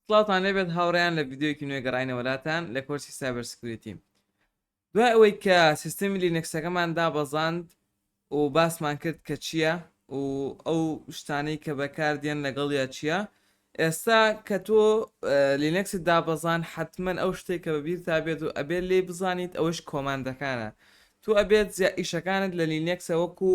سڵاوتان لێبێت هاوڕیان لە ڤیددیوکی نوێ گەڕینەوە لاتان لە کۆرسی سایبەر سکریتی دوای ئەوەی کە سیستمی لینەکسەکەمان دابەزاند و باسمان کرد کە چییە و ئەو شتانەی کە بەکاردێن لەگەڵ یا چییە ئێستا کە تۆ لینەکسی دابەزان حتمما ئەو شتێک کە بەبییر تا بێت و ئەبێت لێی بزانیت ئەوەش کۆماندەکانە تو ئەبێت زیا ئیشەکانت لە لینەکسە وەکو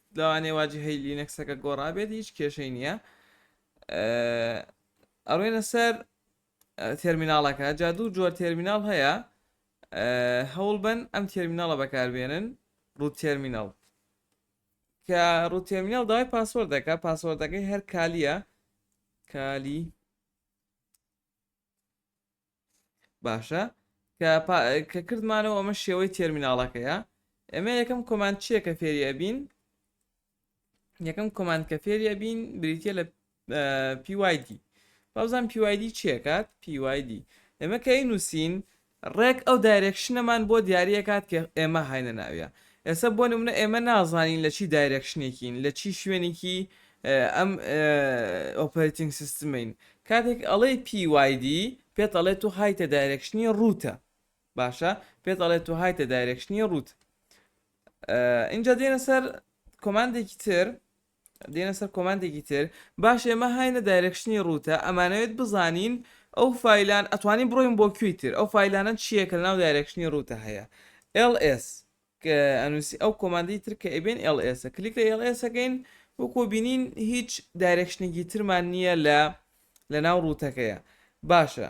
لەوانەیە واجهەی لینەکسەکە گۆڕابێت هیچ کێشەی نییە ئەڕێنە سەر تێرمیناڵەکە جا دوو جۆر تێرمیناڵ هەیە هەوڵ بن ئەم تێرمیناڵە بەکاربێنن ڕوو تێرمیناڵ کە ڕوو تێرمیناڵ داوای پاسۆردەکە پاسۆردەکەی هەر کالیە کالی باشە کە کە کردمانەوە ئەمە شێوەی تێرمیناڵەکەیە ئەمە یەکەم کۆماند چییە کە فێری ئەبین یەکەم کۆماند کە فێری ئەبین بریتە لە پیوایدی بازان پیوایدی چیەکات پیوایدی ئەمە کە نووسین ڕێک ئەو دایرێکشنەمان بۆ دیاری ئەکات کە ئێمە هاینە ناویە ئێسە بۆ نمونە ئێمە نازانین لە چی دایرێکشنێکین لە چی شوێنیکی ئەم ئۆپەرەتینگ سیستمەین کاتێک ئەڵێی PYD پێت ئەڵێ تۆ هایتە دایرێکشنی ڕوتە باشە پێت ئەڵێ تۆ هایتە دایرێکشنی ڕوت ئینجا دێنە سەر کۆماندێکی تر دێنە سەر کۆماندێکی تر باش ئێمە هاینە دایرەکشنی ڕووتە ئەمانەوێت بزانین ئەو فایلان ئەتوانین بڕۆین بۆ کوێی تر ئەو فایلانە چییە کە لەناو دایرەکشنی ڕووتە هەیە LS کە ئەنووسی ئەو کۆماندی تر کە ئەبێن LS کلیک لە LS ئەگەین وەکۆ بینین هیچ دایرەکشنێکی ترمان نییە لە لە ناو ڕووتەکەیە باشە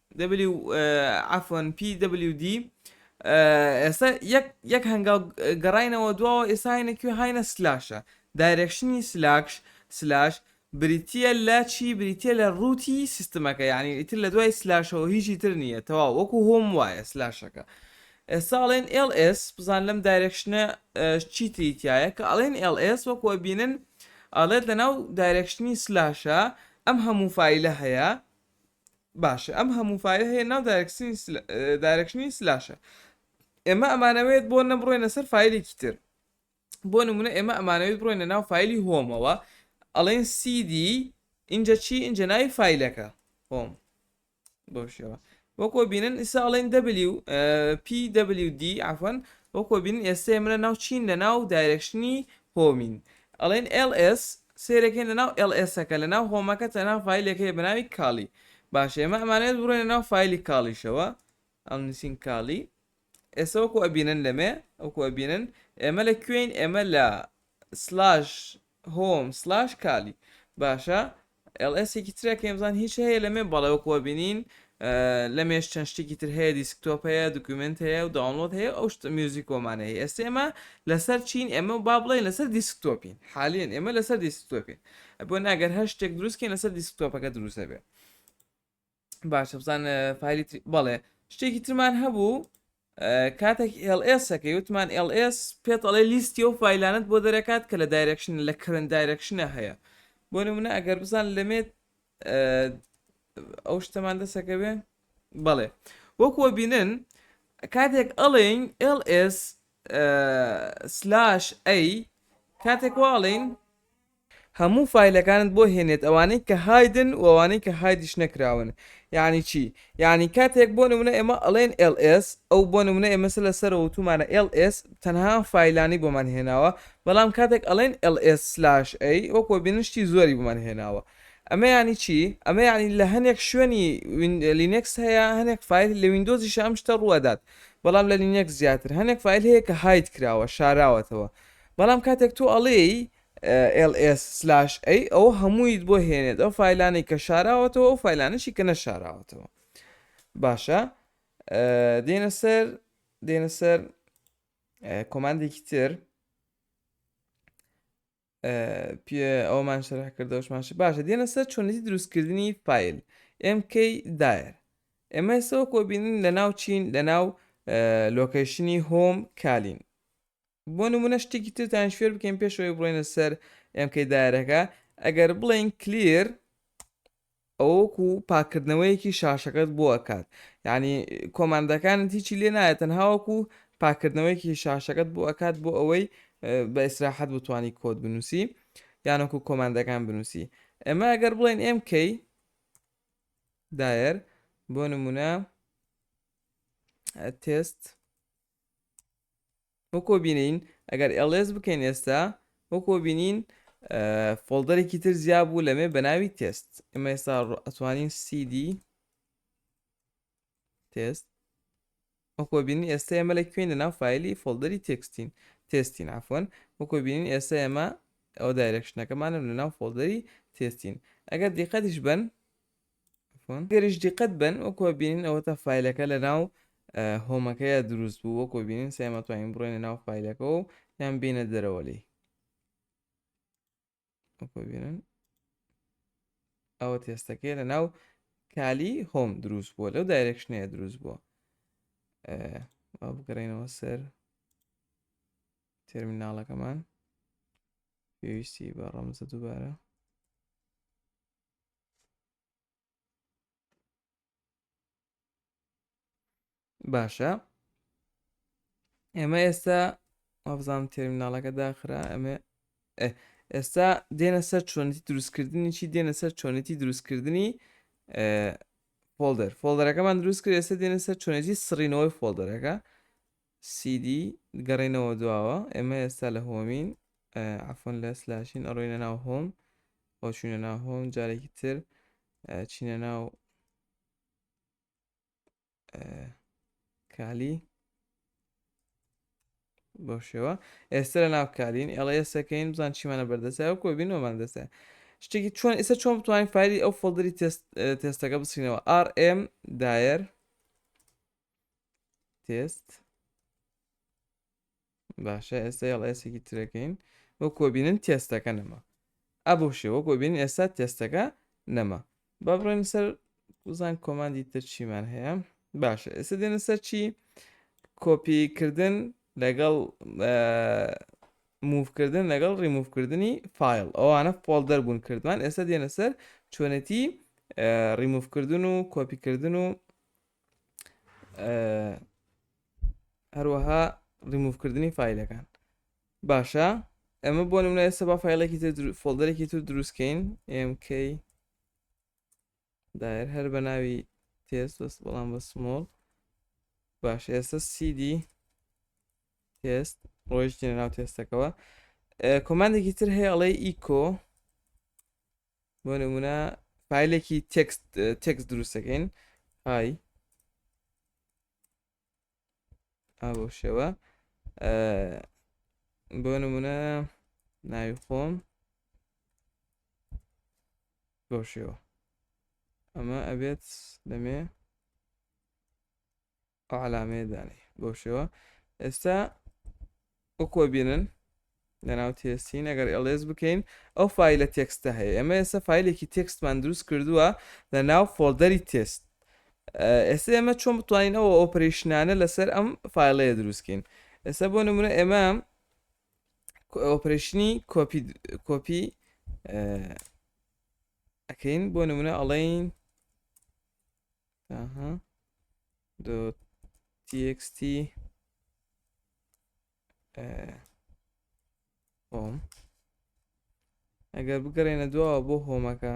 دەبلیو عەفوەن پی دەبلیو دی ئێستا یەک یەک هەنگاو گەڕاینەوە دواوە ئێستا هاینە کوێ هاینە سلاشە دایرێکشنی سلاکش سلاش بریتە لە چی بریتە لە ڕووتی سیستمەکە یعنی ئیتر لە دوای سلاشەوە هیچی تر نییە تەوا وەکو هۆم وایە سلاشەکە ئێستاڵێن LS بزان لەم دایرێکشنە چی تریتایە کە ئەڵێن LS وەکو بینن ئەڵێت لە ناو دایرێکشنی سلاشە ئەم هەموو فیلە هەیە باشە ئەم هەموو فایلە هەیە ناو دارکشنی سلاشە ئێمە ئەمانەوێت بۆ نەبڕێنە سەر فیلێکی تر بۆ نمونە ئێمە ئەمانەوێت بڕێنە ناو فیلی هۆمەوە ئەڵێن سیدی اینجا چی اینجا ناوی فیلەکە هۆم بۆ شێوە وەکۆ بینن ئیسا ئەڵێن دەبلی و PWD ئەفەن وەکۆ بین ئێستا منە ناو چین لە ناو دایرکشنی هۆمین، ئەڵێن ls، سەیرە کەین لەناو ls ەکە لەناو هۆمەکە تەنها فایلێک هەیە بەناوی کالی باشە ئێمە ئەمانەوێت بڕۆینە ناو فایلی کاڵیشەوە ئەڵنوسین کالی ئێستا وەکو ئەبینن لەمێ وەکو ئەبینن ئێمە لە کوێین ئێمە لە سلاش هۆم سلاش کالی باشە ئێڵ ئێس ێکی ترە کە ئێمزان هیچ هەیە لەمێ بەڵێ وەک وەبینین لەمێش چەند شتێکی تر هەیە دیسکتۆپ هەیە دوکیومنت هەیە و داونلۆد هەیە ئەو شتە میوزیک وەمان هەیە ئێستا ئێمە لەسەر چین ئێمە با بڵێن لەسەر دیسکتۆپین حالێن ئێمە لەسەر دیسکتۆپین بۆ ناگەر هەر شتێک دروستکەین لەسەر دیسکتۆپەکە دروستە بێت باشە بزان فایلی بەڵێ شتێکی ترمان هەبوو کاتێک LSەکەی وتمان LS پێت ئەڵێ لیستی و فیلانت بۆ دەرەکات کە لە دایرەکشن لە کرن دایرەکشنە هەیە بۆ نمونە ئەگەر بزان لەمێت ئەو شتەمان دەسەکە بێ بەڵێ وەکوە بینن کاتێک ئەڵێن LS سلاش ئەی کاتێک واڵین هەموو فایلەکانت بۆ هێنێت ئەوانەی کە هایدن و ئەوانەی کە هایدیش نەکراون یانی چی یانی کاتێک بۆ نمونە ئێمە ئەڵێن ls ئەو بۆ نمونە ئێمە سە لە سەرەوە وتومانە ls تەنها ئەم فایلانەی بۆمان هێناوە بەڵام کاتێک ئەڵێن ls/a وەکو ئەبینن شتی زۆری بۆمان هێناوە ئەمە یانی چی ئەمە یانی لە هەنێک شوێنی لینکس هەیە هەنێک فایل لە ویندۆزیش ئەم شتە ڕووەدات بەڵام لە لینکس زیاتر هەنێک فایل هەیە کە هاید کراوە شاراوەتەوە بەڵام کاتێک تۆ ئەڵێی ls سلاش a ئەوە هەموویت بۆ هێنێت ئەو فایلانەی کە شاراوەتەوە ئەو فایلانەشی کە نەشاراوەتەوە باشە دێنە سەر دێنە سەر کۆماندێکی تر پێ ئەومان شەرح کردەوەشمانش باشە دێنە سەر چۆنەتی دروستکردنی فیل MK دایر ئێمە ئێسەوە کۆبینین لە ناو چین لە ناو لۆکەیشنی هۆم کالین بۆ نمونە شتێکی ترتان شوێر بکەین پێش ئەوەی بڵێنە سەر MK دایرەکە ئەگەر بڵێین کلیر ئەوەکو پاکردنەوەیەکی شاشەکەت بۆ ئەکات یعنی کۆماندەکانت هیچی لێ نایە تەنهاوەکو پاکردنەوەیەکی شاشەکەت بۆ ئەکات بۆ ئەوەی بە ئیسراحەت بتانی کۆت بنووسی یانەکو کۆماندەکان بنووسی ئەمە ئەگەر بڵێن MK دایەر بۆ نمونە تست وەکۆ بینین ئەگەر ئێڵێس بکەین ئێستا وەکۆ بینین فۆڵدەرێکی تر زیاب بوو لەمێ بە ناوی تێست ئمە ئێستا ئەتوانین سیدی تێست وەکۆ بینین ئێستا ئێمە لە کوێن لە ناو فیلی فۆڵدەری تێکستین تێستین ئافۆن وەکۆ بینین ئێستا ئێمە ئەو دایرەکشنەکەمانم لە ناو فۆڵدەری تێستین ئەگەر دیقەتیش بن گەریش دیقەت بەن وەکوە بینین ئەوەتا فیلەکە لە ناو هۆمەکەیە دروست بوو وەکۆ بینین سێمەتوانین بڕێنە ناو فیلەکەەوە و یان بینە دەرەوە لی بینن ئەوە تێستەکەی لە ناو کالی هۆم دروست بووە لەو دایرێکشنەیە دروست بووە بگەڕێنەوە سەر تێرمیناڵەکەمان پێویستی بە ڕەمزە دووبارە باشە ئێمە ئێستا وابزانام تێرمیناڵەکە داخرا ئەمێ ئێستا دێنە سەر چۆنیتی دروستکردنی چی دێنە سەر چۆنیتی دروستکردنی فۆلدەر فۆلدەرەکەمان دروست کرد ئێستا دێنە سەر چۆنێتی سڕینەوەی فۆلدەرەکە سیدی گەڕێنەوە دواوە ئێمە ئێستا لە هۆمین عفۆن لە سلاشین ئەڕۆینە ناو هۆم بۆ چوینە ناو هۆم جارێکی تر چینە ناو کالی بۆ شێوە ئێستا لە ناو کارین ئێڵە ئێسەکەین بزان چیمانە بەردەسای و کۆبینەوەمان دەسە شتێکی چۆن ئێستا چۆن بتوانین فایلی ئەو فۆڵدری تێستەکە بسینەوە RM داەر تێست باشە ئێستا یڵ ئێسێکی ترەکەین بۆ کۆبینن تێستەکە نەما ئە بۆ شێوە کۆبین ئێستا تێستەکە نەما با بڕێن سەر وزان کۆماندی تر چیمان هەیە باشە ئێستا دێنە سەر چی کۆپیکردن لەگەڵ موفکردن لەگەڵ ڕیموفکردنی فیل ئەوانە فۆلدەر بوون کردوان ئێستا دێنە سەر چۆنێتی ڕیموفکردن و کۆپیکردن و هەروەها ڕیموفکردنی فیلەکان باشە ئەمە بۆ نمونە ئێستا با فیلێکی تر فۆلدەرێکی تر دروستکەین MK دایر هەر بە ناوی تێست بەس بەڵام بە سمۆڵ باش ئێستا CD تێست ڕۆیشتینە ناو تێستەکەەوە کۆماندێکی تر هەیە ئەڵێ ئیکۆ بۆ نمونە فیلێکی تێکست تێکس دروستەکەین های ئەو شێوە بۆ نمونە ناوی خۆم بۆ شێوە ئەمە ئەبێت دەمێ ئەو علامەیە دانێ بەو شێوە ئێستا وەکوە بینن لەناو تێستین ئەگەر ئێڵێز بکەین ئەو فیلە تێکستە هەیە ئەمە ئێستا فیلێکی تێکستمان دروست کردووە لە ناو فۆلدەری تێست ئێستا ئێمە چۆن بتوانین ئەو ئۆپریشنانە لەسەر ئەم فیلەیە دروستکەین ئێستا بۆ نمونە ئێمە ئۆپرشنی کۆپی کۆپی ئەکەین بۆ نمونە ئەڵین تاها دۆ تیکستی هۆم ئەگەر بگەڕێنە دواوە بۆ هۆمەکە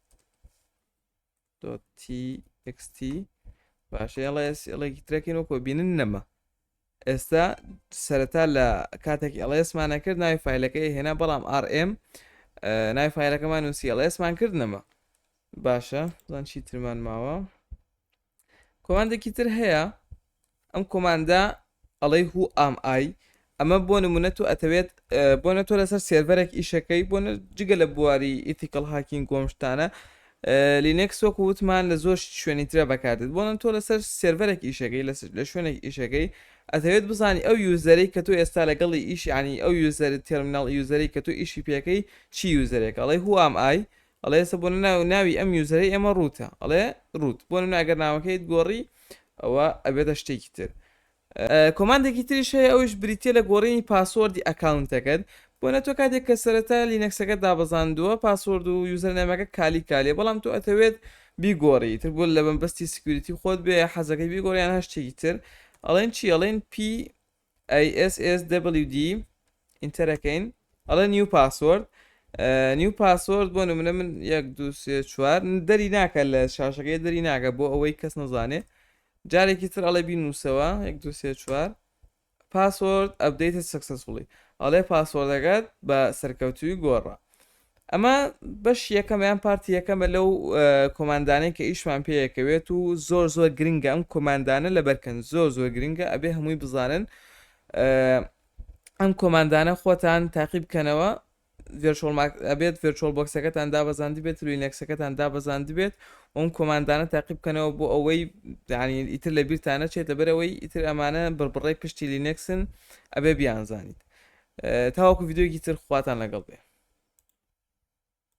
تی باشە ئێڵە ئێڵێکی ترەکەین وەکۆ بینن نەما ئێستا سەرەتا لە کاتێک ئەڵێسمانە کرد ناوی فیلەکەی هێنا بەڵام RM ناوی فیلەکەمان نووسی ئەڵێسمان کرد نەما باشە زان چی ترمان ماوە کۆماندێکی تر هەیە ئەم کۆماندە ئەڵێ هو ئام ئای ئەمە بۆ نمونە تۆ ئەتەوێت بۆ نە تۆ لەسەر سێرڤەرێک ئیشەکەی بۆ جگە لە بواری ئیتیکەڵ هاکین گۆمشتانە لینکس وەکو وتمان لە زۆر شوێنی ترە بەکاتێت بۆ نە تۆ لەسەر سێرڤەرێک ئیشەکەی لە شوێنێک ئیشەکەی ئەتەوێت بزانانی ئەو یوزەرەی کە تۆ ئێستا لەگەڵی ئیشیانی ئەو یوزەر تێرمینال یوزەری کە تۆ ئیشی پێەکەی چی یوزەرێک ئەڵێ هو ئام ئای ئەڵێ ئێستا بۆ ناو ناوی ئەم یوزەرەی ئێمە ڕوتە ئەڵێ ڕوت بۆ نمونە ئەگەر ناوەکەیت گۆڕی ئەوە ئەبێتە شتێکی تر کۆماندێکی تریش هەیە ئەوش بریتە لە گۆڕینی پاسۆردی ئەکاونتەکەت بۆ نە تۆ کاتێک کە سەرەتا لینەکسەکە دابزاندووە پاسۆرد و یوزەرنامەکە کالی کالێ بەڵام تۆ ئەتەوێت بیگۆڕی تر بۆ لە بەمبستی سکیوریتی خۆت بێ حەزەکەی بیگۆڕیان هەشتێکی تر ئەڵێن چی ئەڵێن پی ISSWD ئینتەر ئەکەین ئەڵێ نیو پاسۆرد نیو پاسۆرد بۆ نمونە من یەک دو سێ چوار دەری ناکە لە شاشەکەی دەری ناکە بۆ ئەوەی کەس نەزانێ جارێکی تر ئەڵێ بین نووسەوە یەک دو سێ چوار پاسۆرد ئەبدەیتە سەکسەسفڵی ئەڵێ پاسۆردەکەت بە سەرکەوتوی گۆڕە ئەمە بەش یەکەم یان پارتی یەکەمە لەو کۆماندانەی کە ئیشمان پێیەکەوێت و زۆر زۆر گرنگە ئەم کۆماندانە لە بەرکەن زۆر زۆر گرنگە ئەبێ هەمووی بزانن ئەم کۆماندانە خۆتان تاقیب بکەنەوە ئەبێت ڤێرچۆل بۆکسەکەتان دابەزاندی بێت روی نەکسەکەتان دابەزاند بێت ئەم کۆماندانە تاقیب بکەنەوە بۆ ئەوەی دانی ئیتر لە بیرتانە چێت لەبەرەوەی ئیتر ئەمانە بڕبڕی پشتی لینەکسن ئەبێ بیانزانیت تاوەکو ڤیدیۆیەکی تر خواتان لەگەڵ بێ.